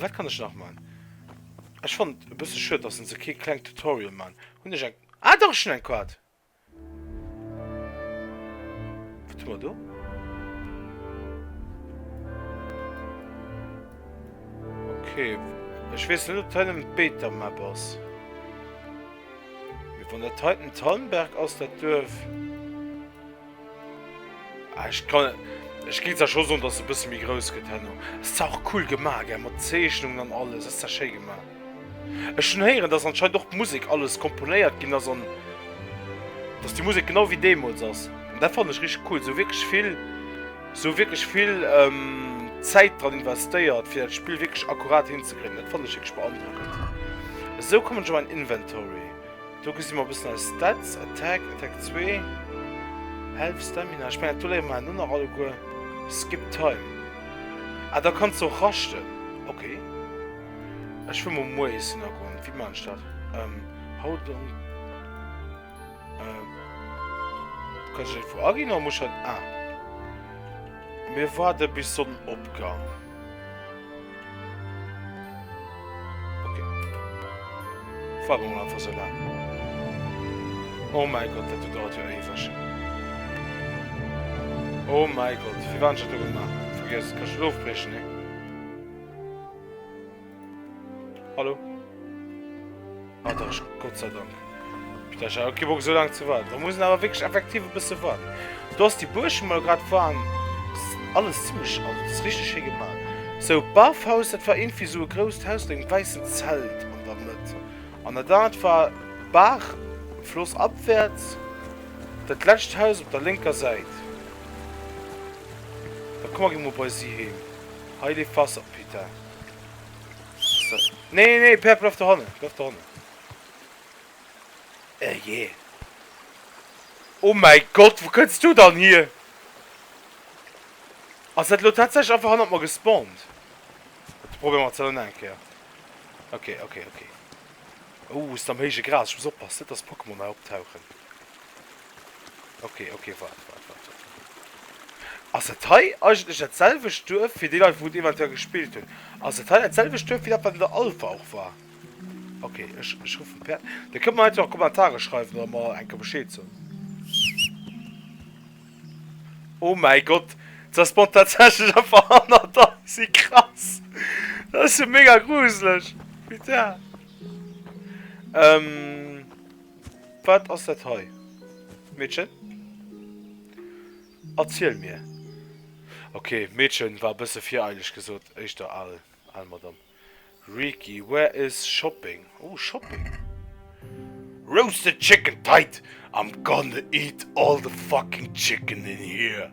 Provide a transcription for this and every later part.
Wat kann ech nach man? Ech fand bësse schued, datt se kee kleng Tutorial man hunn ech eng ah do schon eng Quad. Wat hu mer do? Okay, ech weess net, ob dat ëm d'Beta-Map ass. Mee wann dat heiten Thalmberg ass, dat Duerf. Ah, ich kann... Ich gehe zwar schon so, dass es ein bisschen mehr groß geht, Henno. Es ist auch cool gemacht, gell, mit Zeichnungen und alles. Es ist ja schön gemacht. Ich schon hören, dass anscheinend auch die Musik alles komponiert ging, also, dass die Musik genau wie damals ist. Und das fand ich richtig cool. So wirklich viel, so wirklich viel ähm, Zeit dran investiert, für das Spiel wirklich akkurat hinzukriegen. Das fand ich wirklich beeindruckend. So kommen schon mal in Inventory. Do gesi mer e bëssen eis Stats, Attack, Attack 2, Health, Stamina, ech mengen do léiere mer elo nach alleguer, Skip Time, ah da kanns de och raschten, ok. Ech wëll mol muer iessen a goen, wéi man ech dat, ähm how long, ähm kann ech dat iergendwou aginn oder muss ech dat, ah mir waarde bis Sonnenopgang. Warum einfach so lang? Oh mein Gott, dat dauert jo éiweg. Oh mein Gott, wie waren schon du gemacht? Vergiss, kann schon aufbrechen, ne? Hallo. Ah, da ist Gott sei Dank. Ich dachte, ich habe so lange zu warten. Da muss ich aber wirklich effektiv ein bisschen warten. Du hast die Burschen mal gerade fahren. Alles ziemlich alt. Das ist richtig schön gemacht. So, Barfhaus, das war irgendwie so ein großes Haus mit einem weißen Zelt an der Mitte. Und da das war Bach, Fluss abwärts. Das letzte Haus auf der linken Seite. Da kommen wir mal bei sie hin. Heile Wasserpeter. Nee, nee, Pär, bleif do hannen, bleif do hannen. Eh je. Oh mäi Gott, wou kënns du dann hier? Ass dat elo tatsächlech einfach hannert mer gespawnt? Dat probéiere mer zell nach eng Kéier. Ok, ok, ok. Oh, e sinn am héije Gras, ech muss oppassen, net dass Pokémon hei optauchen. Okay, okay, wart, wart, wart, wart. Ass et hei eigentlech dat selwecht Duerf, fir déi Leit, wou et eventuell gespillt hunn, ass et hei dat selwecht Duerf, wéi dat, wat an der Alpha och war? Okay, ech, ech ruffen d'Per. Dir kënnt mer einfach a Kommentare schreiwen oder mer enke Bescheed soen. Oh mäi Gott, se spawnt tatsächlech einfach hanner der! Wéi krass! Dat ass jo mega gruselech! Putain! Ähm. Wat ass dat hei, Meedchen? Erziel mir. Ok, Meedchen war e bësse vireileg gesot, éischter al al Madamm. Reeky, where is shopping? Oh, Shopping. Roasted chicken tight, I'm gonna eat all the fucking chicken in here.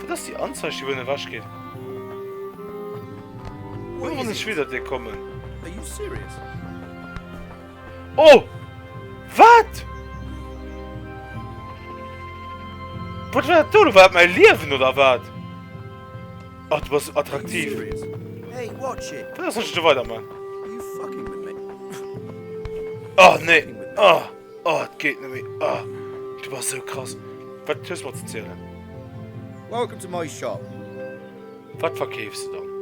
Dat ass déi Anzeich déi wëllen ewech ginn. Wou muss ech widder dir kommen? Oh! Wat? Wat war dat do? War dat mäi Liewen oder wat? Oh, du bass attraktiv. Wat ass dat weider man? Oh nee! Oh! Oh et geet net méi oh du bass sou krass wat hues mer ze zielen? Welcome to my shop. Wat verkeefs du dann?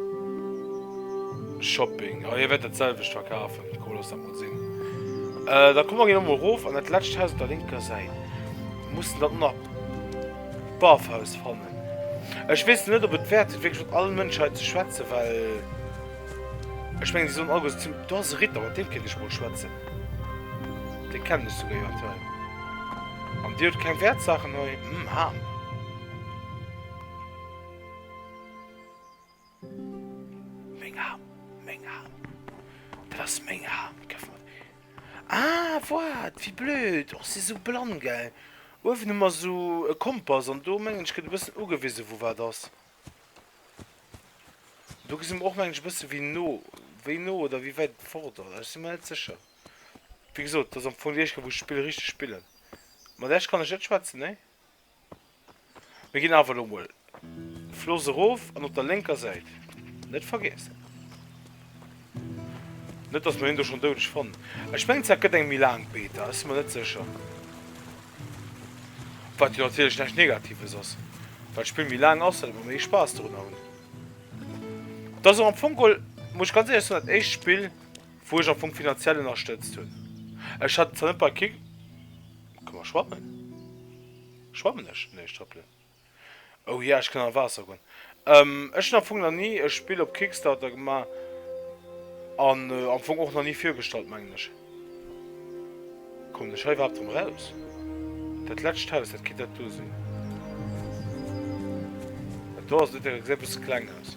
Shopping oh hie wäert dat selwecht verkafen cool lass dat mol sinn da komm mer ginn emol rof an dat letscht Haus op der linker Säit mussen dann nach Barfhaus fannen ech weess net op et wäert sinn wierklech mat allen Mënschen hei ze schwätzen well ech mengen si sollen alleguer do ass e Ritter mat deem kéint ech mol schwätzen. Dei kennen ech souguer jo aktuell. An dir hutt keng Wertsachen hei? Hm, Ham. Meng Ham, meng Ham. Dat ass meng Ham. Geff mer déi. Ah, what? Wéi blöd. Och si sou blann, gell? Uewen hu mer sou e Kompass an do, mengen ech, gëtt e bëssen ugewisen, wou wat ass. Do gesi mer och mengen ech e bësse wéi no, wéi no oder wéi wäit et fort ass. Ech si mer net sécher. Wéi gesot, dat ass am Fong déi éischt Kéier, wou ech d'Spill richteg spillen. Mat Esch kann ech net schwätzen, nee. Mir ginn awer elo emol Floss erof an op der lénker Säit, net vergiessen. Net dass mer hien do schonn doudeg fannen. Ech mengen zwar et gëtt eng méi laang Beta, ech si mer net sécher. Wat jo natierlech näischt Negatives ass, well d'Spill méi laang ass, wäerte mer méi Spaass dorunner hunn. Et ass och am Fong geholl, muss ech ganz éierlech soen, dat éischt Spill, wou ech am Fong finanziell ënnerstëtzt hunn. Ech hat et zwar net bei Kick. Ka mer schwammen? Schwammen ech? Nee, ech trëppelen. Oh ja, ech kann an d'Waasser goen. Ech hunn am Fong nach ni e Spill op Kickstarter gemaach an am Fong och nach ni virgestallt, mengen ech. Kommen ech hei iwwerhaapt erëm eraus? Dat letscht Haus, dat kéint dat do sinn. Dat do ass net, dat gesäit e bësse kleng aus.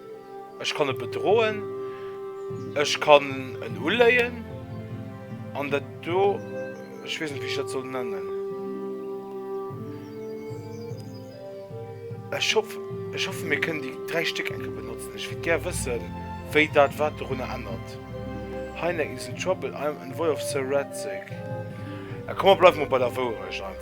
Ech kann e bedroen, ech kann en uléien an dat do, ech weess net wéi ech dat soll nennen. Ech hoff, ech hoffe mir kënnen déi dräi Stéck eng Kéier benotzen. Ech wéilt gär wëssen, wéi dat wat dorunner ännert. Hynek is in trouble, I'm envoy of Sir Radzig. A komm mer bleiwe mol bei der Wourecht einfach.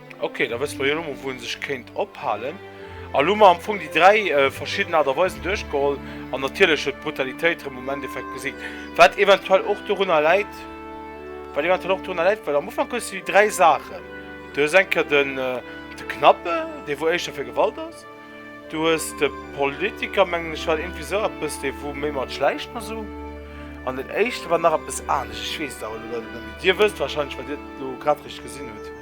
Ok, da wësse mer jo elo mol, wou ee sech kéint ophalen. An elo hu mer am Fong déi dräi verschidden Aart a Weisen duerchgeholl an natierlech huet d'Brutalitéit erëm um Endeffekt gesiegt, wat eventuell och dorunner läit, wat eventuell och dorunner läit, well am Ufank hues de déi dräi Saachen, du hues eng Kéier den, de Knappe, dee wou éischter fir Gewalt ass, du hues de Politiker, mengen ech, war iergendwéi esou eppes, dee wou méi mat Schläichten a sou, an den éischte war nach eppes anescht, ech weess et awer elo leider net méi. Dir wësst wahrscheinlech, well Dir et elo grad richteg gesinn hutt.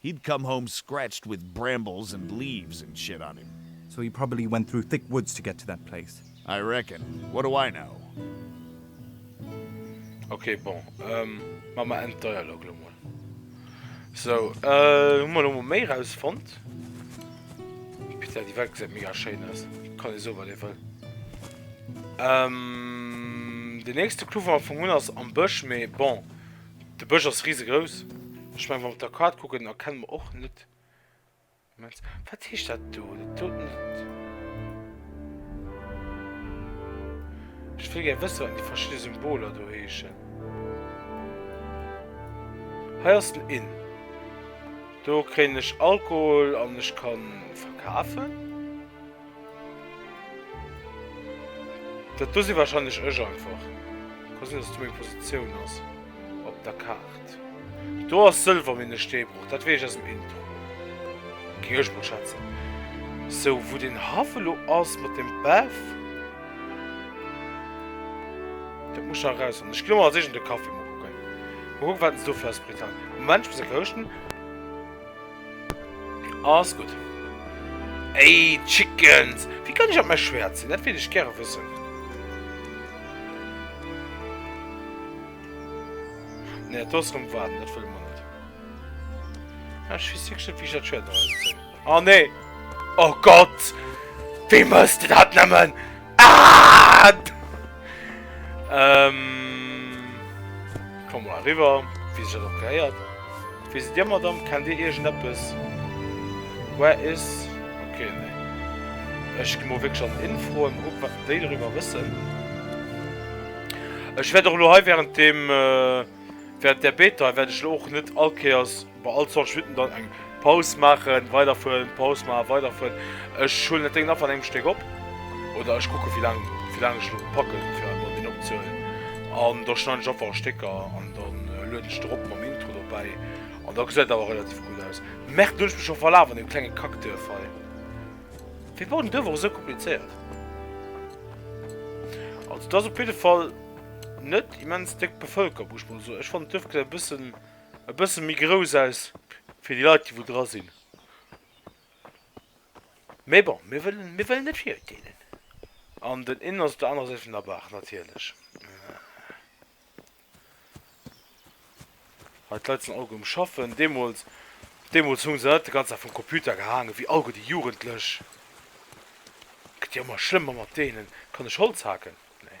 He'd come home scratched with brambles and leaves and shit on him. So he probably went through thick woods to get to that place. I reckon. What do I know? Ok bon, maa mer en Dialog lo mol. So hu mer lo mol méi raus fonnt. Putain déi Welt gesäit mega schéin aus, kann ee soe wat ee wëll. Den nächste Clou wou mer fongen hunn ass am Bësch, mee bon De Bësch ass risegrouss. Ech mengen, wa mer op der Kaart kucken, erkenne mer och net immens. Wat heescht dat do? Dat do net. Ech wëll gär wëssen, wat déi verschidde Symboler do heeschen. Hei ass den Inn. Do kréien ech Alkohol an ech ka verkafen. Dat do si wahrscheinlech ech einfach. Ka sinn, dass do meng Positioun ass op der Kaart. Do ass Sëlwer méi ne Steebroch, dat weess ech aus dem Intro. Géing ech mol schätzen. Sou, wou den Haff elo ass mat dem Bäff. Dat muss ech nach erausfannen. Ech gi elo mol als Eescht an de Café. Mol kucken, mol kucken, wat een sou fir eis Britannia. Moment, ech muss e rouegen. Alles gutt. Ey, Chickens! Wéi kann ech op mäi Schwert sinn? Dat wéilt ech gäre wëssen. Nee, dat do ass erëm waarden. Dat wëlle mer net. Ah, ech weess wierklech net, wéi ech dat Schwert eraus zéien. Oh, nee! Oh Gott! Wéi mëss de dat nëmmen? Ah! Ähm. Komm mal rüber, wie sich das auch gehört. Wisst ihr, Madame, kennt ihr irgendetwas? Where is. Okay, nee. Ich gehe mal wirklich an Info und gucke, was die darüber wissen. Ich werde auch nur während dem. Äh, während der Beta werde ich auch nicht allkehrs. Bei all 20 Minutten dann eng Paus maachen, weiderfueren, Paus maachen, weiderfueren. Ech huelen dat Déngen einfach an engem Stéck op oder ech kucken, wéi laang ech elo packen, fir einfach deen opzehuelen. An da schneiden ech einfach a Stécker an da lueden ech de erop mam Intro dobäi. An da gesäit et awer relativ gutt aus. Merde, do hunn ech mech scho verlaf an deem klenge Kackduerf hei. Wéi baut en Duerf och esou komplizéiert? Also, et ass op jidde Fall net immens déck bevëlkert, muss ech mol soen. Ech fannen d'Duerf gesäit e bëssen. E bëssen méi grouss aus fir déi Leit déi wou dra sinn. Mee bon, mir wëllen, mir wëllen net virurteelen. An den Inn ass op der anerer Säit vun der Baach natierlech. Hei d'Leit sinn alleguer um schaffen. Deemools, deemools hu se net de ganzen Dag vum Computer gehaangen wéi alleguer déi Jugendlech. Gëtt jo ëmmer schlëmmer mat deenen. Kann ech Holz haken? Nee.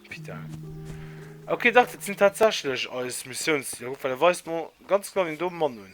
Pita. Ok dach dat sinn tatsächlech eis Missiounsziler. Kuck well e weist mer ganz genau deen do Mann un.